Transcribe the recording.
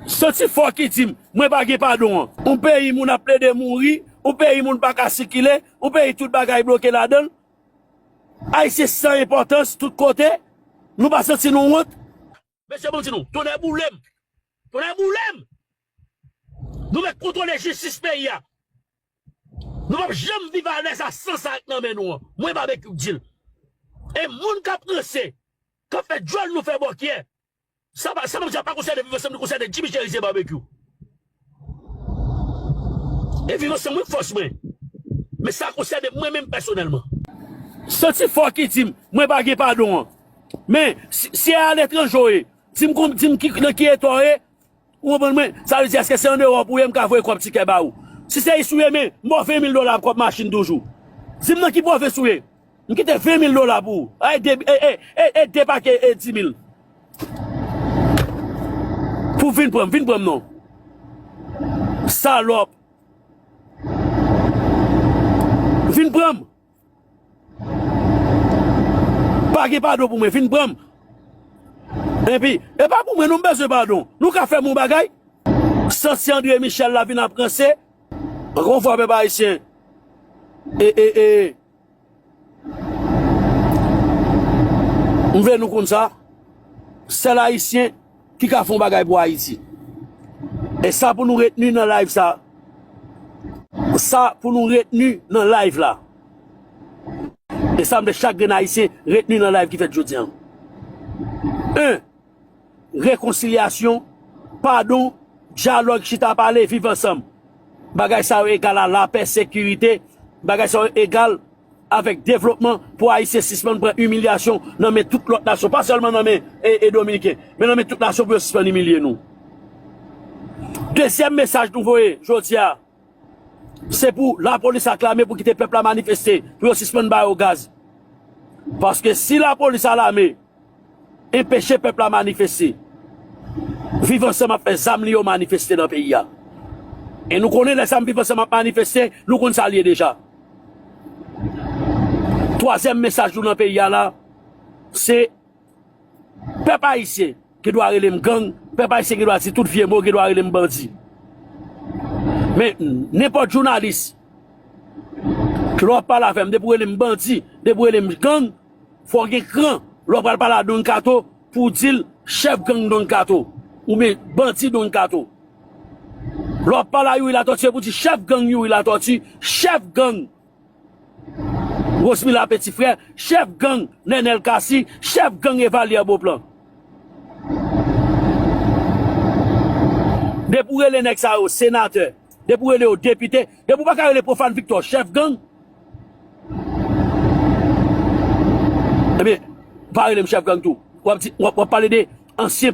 Santi fò ki di m, mwen pa gen padon an. Yon peyi moun ap plede mouri, yon peyi moun pa ka sikile, yon peyi tout bagay bloke ladan l. Ayisyen san enpòtans tout kote, nou pa santi nou wont? Mesye bon m di nou, tonnè boule m! Tonnè boule m! Nou mèt kontwole jistis peyi a. Nou pap janm viv alèz a san sa k nan men nou an. Mwen Babekyou k di l. E moun k ap ranse, k ap fè djòl nou fè bòkyè, Sa pa sa map di a pa konsène viv ansanm li konsène Jimmy Cherizier Barbecue e viv ansanm wi k fòs mwen men sa konsène mwen menm pèsonèlman. Santi fò ki dim mwen pa gen padon an men si e aletranje w ye dim dim nan ki eta w ye. Ou konprann mwen? Sa vle di eske se an Ewop ou ye mka voye kòb tikè ba ou? Si se isi ou ye men m ba w 20 mil dola pou kòb machin toujou. Di m nan ki pwovens ou ye? M kite 20 mil dola pou ou. Ay de e de pake e 10 mil. Pou w vin pran m, vin pran m non. Salòp. Vin pran m. Pa gen padon pou mwen, vin pran m. Enpi, e pa pou mwen non m bezwen padon. Nou ka fè m yon bagay? Sansi Andre Michel la vin ap ranse. Ankò yon fwa pèp ayisyen e e e m vle nou konn sa, sèl ayisyen. ki ka fon bagay pou Ayiti. E sa pou nou reteni nan live sa, sa pou nou reteni nan live la, e sa mwen chak grenn Ayisyen reteni nan live ki fèt jodi an. 1, Rekonsilyasyon, padon, dyalòg, chita pale, viv ansanm. Bagay sa yo egal a lapè, sekirite, bagay sa yo egal. avèk devlopman pou Ayisyen sispann pran imilyasyon nan men tout lòt nasyon, pa sèlman nan men Dominiken, men nan men tout nasyon pou yo sispann imilye nou. Dezyèm mesaj nou voye jodi a, se pou lapolis ak lame pou kite pèp la manifeste, pou yo sispann ba yo gaz. Paske si lapolis a lame. Enpeche pèp la manifeste. Viv ansanm ap fè zam li yo manifeste nan peyi a. E nou konnen lè zam viv ansanm ap manifeste, nou konn sa l ye deja. Twazyèm mesaj nou nan peyi a la, se pèp ayisyen gen dwa rele m gang, pèp ayisyen gen dwa di tout vye mo, gen dwa rele m bandi. Men, nenpòt jounalis, lè w ap pale avè m, depi w rele m bandi, depi w rele m gang, Fòw gen kran lè w pral pale a Don Kato pou w di l chèf gang Don Kato oubyen bandi Don Kato. Lè wap pale a Youri Latòti se pou w di chèf gang Youri Latòti, chèf gang Rosmila Peti Frè, chèf gang Nènèl Kasi, chèf gang Evalyè Boplan. Depi w rele nèg sa yo senatè. Depi ou rele yo depite, depi ou paka rele Profane Victor chèf gang, ebyen pa rele m chèf gang tou. Wap di, wap pale de ansyen.